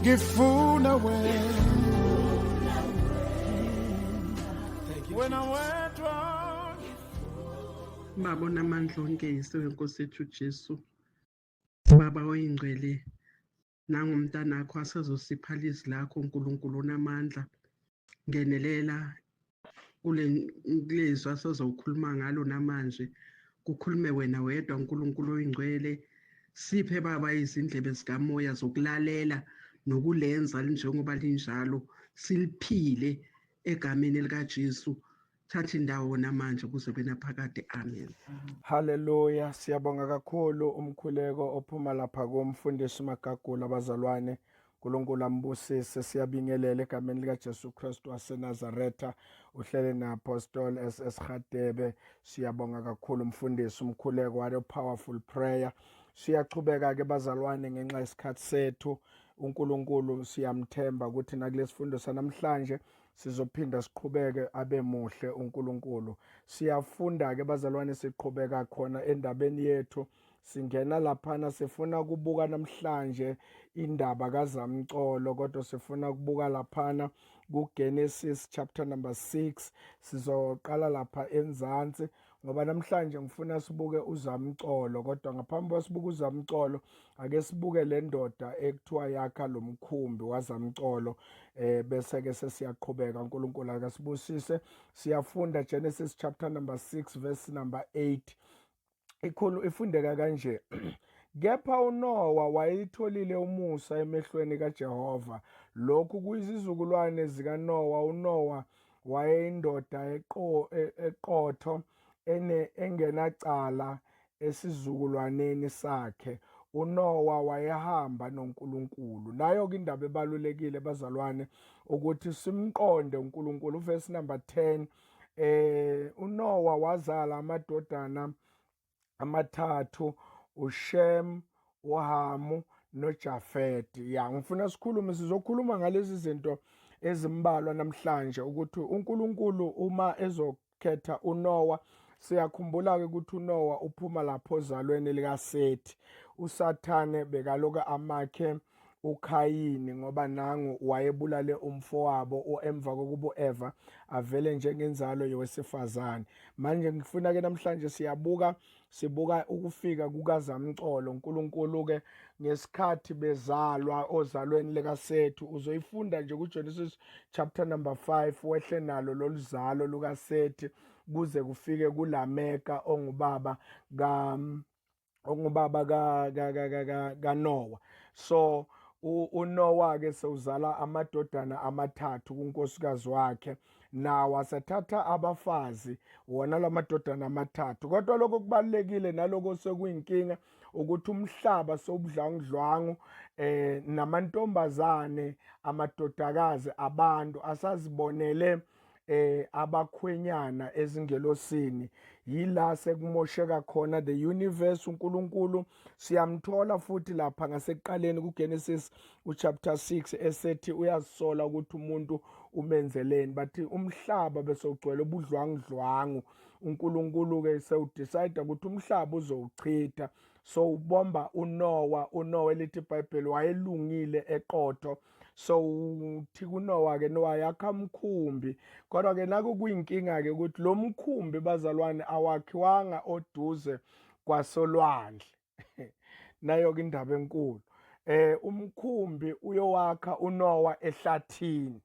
ngifuna wena wena wedwa baba onamandla onke yise wenkosi yethu ujesu baba oyingcwele nangomntanakho asezosipha lizwi lakho nkulunkulu onamandla ngenelela kulezwi asoze ukhuluma ngalo namanje kukhulume wena wedwa uNkulunkulu oyingcwele siphe baba izindlebe zikamoya zokulalela nokulenza njengoba linjalo siliphile egameni likaJesu thatha indawo namanje kuze kwenaphakade amen haleluya siyabonga kakhulu umkhuleko ophuma lapha komfundisi magagula abazalwane uNkulunkulu ambusise siyabingelela egameni likaJesu Kristu waseNazaretha uhlele naApostle SS Hadebe siyabonga kakhulu umfundisi umkhuleko wale powerful prayer siyachubeka ke bazalwane ngenxa yesikhathi sethu uNkulunkulu siyamthemba ukuthi nakulesifundo sanamhlanje sizophinda siqhubeke abe muhle uNkulunkulu siyafunda ke bazalwane siqhubeka khona endabeni yethu Singena laphana sifuna kubuka namhlanje indaba kaZamcolo kodwa sifuna kubuka laphana kuGenesis chapter number 6 sizoqala lapha enzansi ngoba namhlanje ngifuna sibuke uZamcolo kodwa ngaphambi kwasibuka uZamcolo ake sibuke le ndoda ekuthiwa yakha lo mkhumbi waZamcolo eh bese ke sesiyaqhubeka uNkulunkulu akasibusise siyafunda Genesis chapter number 6 verse number 8 ikhulu ifundeka kanje Kepha uNowa wayitholile umusa emehlweni kaJehova. Lokhu kuyizizukulwane zikaNowa. UNowa wayeyindoda e, eqotho engenacala esizukulwaneni sakhe. UNowa wayehamba noNkulunkulu. Nayo-ke indaba ebalulekile bazalwane ukuthi simqonde uNkulunkulu. Uvesi number 10 eh uNowa wazala amadodana amathathu uShem uHamu noJafet ya ngifuna sikhulume sizokhuluma ngalezi zinto ezimbalwa namhlanje ukuthi uNkulunkulu uma ezokhetha uNowa siyakhumbula ke ukuthi uNowa uphuma lapho ozalweni likaSethi uSathane bekaloka amakhe uKhayini ngoba nangu wayebulale umfowabo emva kokuba uEva avele njengenzalo yowesifazane. Manje ngifuna ke namhlanje siyabuka sibuka ukufika kukaZamcolo uNkulunkulu ke ngesikhathi bezalwa ozalweni likaSethu uzoyifunda nje kuGenesis chapter number 5 wehle nalo loluzalo lukaSethi kuze kufike kuLameka ongubaba ka okungubaba ka ka ka ka kaNowa so uNowa ke sewuzala amadodana amathathu kunkosikazi wakhe nawo asethatha abafazi wona lamadodana amathathu kodwa lokho kubalekile naloko sekuyinkinga ukuthi umhlaba sobudlangudlwangu eh namantombazane amadodakazi abantu asazibonele eh abakhwenyana ezingelosini yila sekumosheka khona the universe uNkulunkulu siyamthola futhi lapha ngasekuqaleni kuGenesis uchapter 6 esethi uyazisola ukuthi umuntu umenzeleni bathi umhlaba bese ugcwele ubudlwangudlwangu uNkulunkulu ke sewudecide ukuthi umhlaba uzowuchitha so ubomba uNowa uNowa elithi iBhayibheli wayelungile eqotho so uthi kunowa ke nowa yakha mkhumbi kodwa ke naku kuyinkinga ke ukuthi lo mkhumbi bazalwane awakhiwanga oduze kwasolwandle nayo ke indaba enkulu eh umkhumbi uyowakha uNowa ehlathini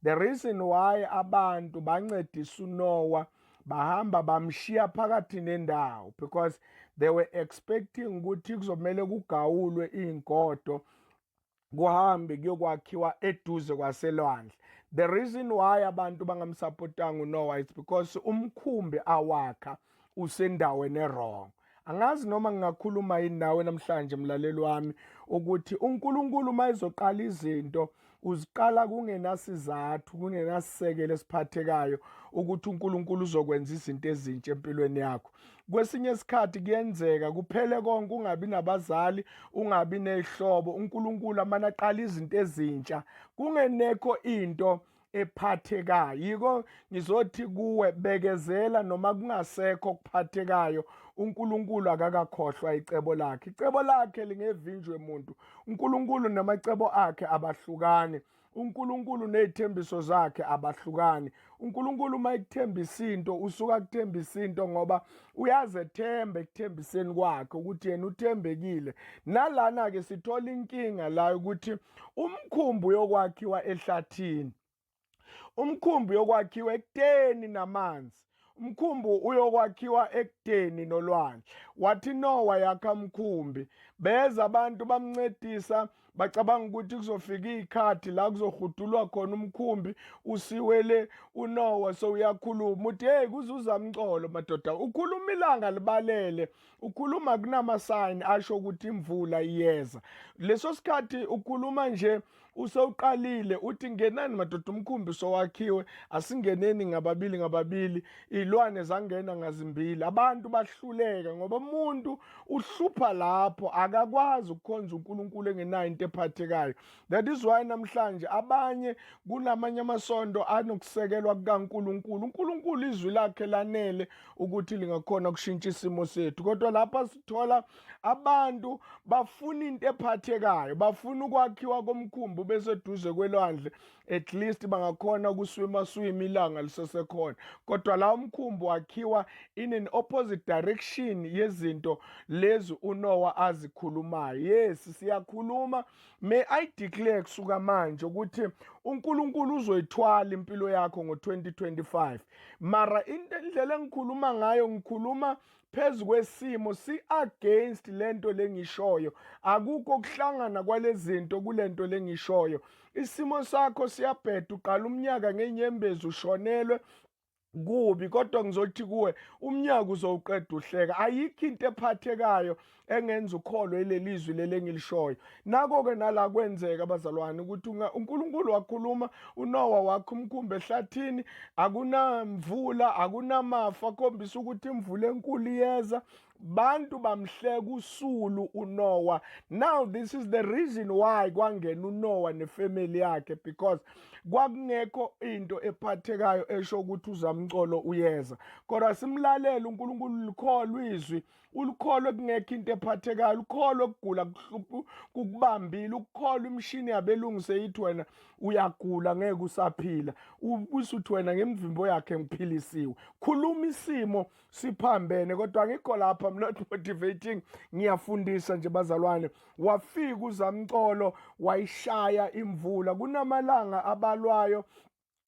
the reason why abantu bancedisa uNowa bahamba bamshiya phakathi nendawo because they were expecting ukuthi kuzomele kugawulwe izingodo kuhambe kuyokwakhiwa eduze kwaselwandle the reason why abantu bangamsapotanga unowa it's because umkhumbi awakha usendaweni erong angazi noma ngingakhuluma yini nawe namhlanje mlaleli wami ukuthi unkulunkulu uma ezoqala izinto uziqala kungenasizathu kungenasisekelo esiphathekayo ukuthi uNkulunkulu uzokwenza izinto ezintsha empilweni yakho kwesinye isikhathi kuyenzeka kuphele konke ungabi nabazali ungabi nezihlobo uNkulunkulu amana aqala izinto ezintsha kungenekho into ephathekayo yiko ngizothi kuwe bekezela noma kungasekho okuphathekayo uNkulunkulu akakakhohlwa icebo lakhe icebo lakhe lingevinjwe muntu uNkulunkulu namacebo akhe abahlukani uNkulunkulu nezithembiso zakhe abahlukani uNkulunkulu uma ekuthembisa into usuka kuthembisa into ngoba uyazethemba ekuthembiseni kwakhe ukuthi yena uthembekile nalana ke sithola inkinga la ukuthi umkhumbi uyokwakhiwa ehlathini umkhumbi yokwakhiwa ekuteni namanzi Umkhumbi uyokwakhiwa ekudeni nolwandle. Wathi Nowa yakha mkhumbi. Beza abantu bamncedisa bacabanga ukuthi kuzofika iy'khathi la kuzohudulwa khona umkhumbi usiwele unowa sowuyakhuluma uthi heyi kuzuza mcolo madoda ukhuluma ilanga libalele ukhuluma kunamasayini asho ukuthi imvula iyeza leso sikhathi ukhuluma nje usewuqalile uthi ngenani madoda umkhumbi sowakhiwe asingeneni ngababili ngababili ilwane zangena ngazimbili abantu bahluleka ngoba umuntu uhlupha lapho akakwazi ukukhonza uNkulunkulu engenayo into ephathekayo that is why namhlanje abanye kunamanye amasonto anokusekelwa kukaNkulunkulu uNkulunkulu izwi lakhe lanele ukuthi lingakhona ukushintsha isimo sethu kodwa lapha sithola abantu bafuna into ephathekayo bafuna ukwakhiwa komkhumbi beseduze kwelwandle at least bangakhona ukuswima swima ilanga lisesekhona kodwa la umkhumbi wakhiwa in an opposite direction yezinto lezi uNowa azikhulumayo yes siyakhuluma may i declare kusuka manje ukuthi uNkulunkulu uzoyithwala impilo yakho ngo2025 mara indlela engikhuluma ngayo ngikhuluma phezu kwesimo si against lento lengishoyo akukho kuhlangana kwalezinto kulento lengishoyo isimo sakho siyabheda uqala umnyaka ngenyembezi ushonelwe kubi kodwa ngizothi kuwe umnyaka uzowuqeda uhleka ayikho into ephathekayo engenza ukholwe lelizwi leli engilishoyo nako ke nala kwenzeka abazalwane ukuthi uNkulunkulu wakhuluma uNowa wakhe umkhumbi ehlathini akunamvula akunamafa khombisa ukuthi imvula enkulu iyeza bantu bamhleka usulu uNowa now this is the reason why kwangena uNowa nefamily yakhe because kwakungekho into ephathekayo esho ukuthi uzamcolo uyeza kodwa simlalela uNkulunkulu likholwa izwi ulikholwe kungekho into ephathekayo ulikholwe kugula kuhluphu kukubambile ukukholwa imishini yabelungu seyithi wena uyagula ngeke usaphila ubuse uthi wena ngemvimbo yakhe ngiphilisiwe khuluma isimo siphambene kodwa ngikho lapha i'm not motivating ngiyafundisa nje bazalwane wafika uzamcolo wayishaya imvula kunamalanga abalwayo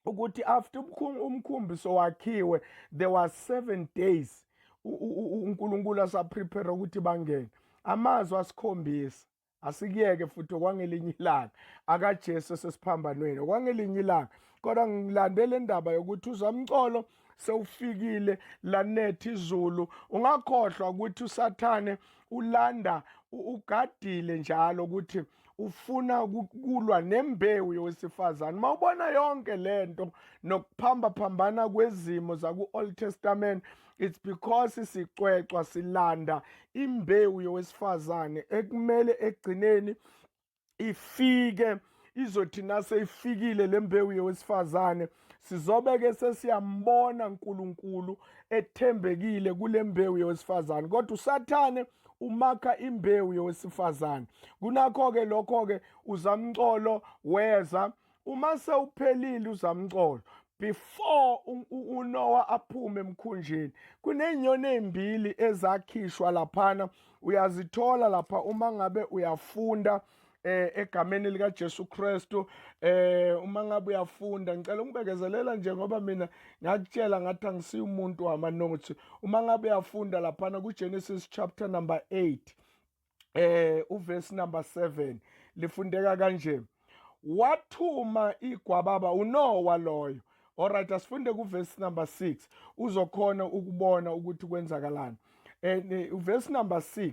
ukuthi after umkhumbi sowakhiwe there was seven days uNkulunkulu asaprepare ukuthi bangene amazwi asikhombisa asikuyeke futhi okwangelinye ilanga akaJesu esesiphambanweni okwangelinye ilanga kodwa ngilandele indaba yokuthi uzamcolo sewufikile lanethi izulu ungakhohlwa ukuthi usathane ulanda ugadile njalo ukuthi ufuna ukulwa nembewu yowesifazane uma ubona yonke le nto nokuphambaphambana kwezimo zaku-old testament it's because sicwecwa silanda imbewu yowesifazane ekumele ekugcineni ifike izothi naseyifikile le mbewu yowesifazane sizobe ke sesiyambona uNkulunkulu ethembekile kule mbewu yowesifazane kodwa usathane umakha imbewu yowesifazane kunakho-ke lokho-ke uzamcolo weza uma sewuphelile uzamcolo before uNoah aphume emkhunjini kunezinyoni ezimbili ezakhishwa laphana uyazithola lapha uma ngabe uyafunda eh egameni lika Jesu Kristu eh uma ngabe uyafunda ngicela ungibekezelela nje ngoba mina ngakutshela ngathi angisiyi umuntu wama notes uma ngabe uyafunda lapha na ku Genesis chapter number 8 eh uverse number 7 lifundeka kanje wathuma igwababa uNowa loyo alright asifunde ku verse number 6 uzokhona ukubona ukuthi kwenzakalani and eh, verse number 6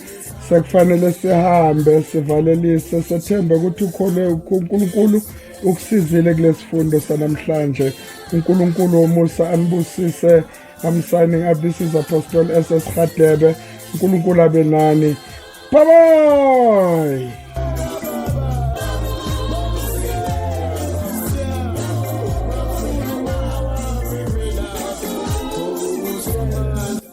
sekufanele sihambe sivalelise sethembe ukuthi ukhole uNkulunkulu ukusizile kulesifundo sanamhlanje uNkulunkulu womusa anibusise I'm signing up this is Apostle SS Khadebe uNkulunkulu abe nani bye bye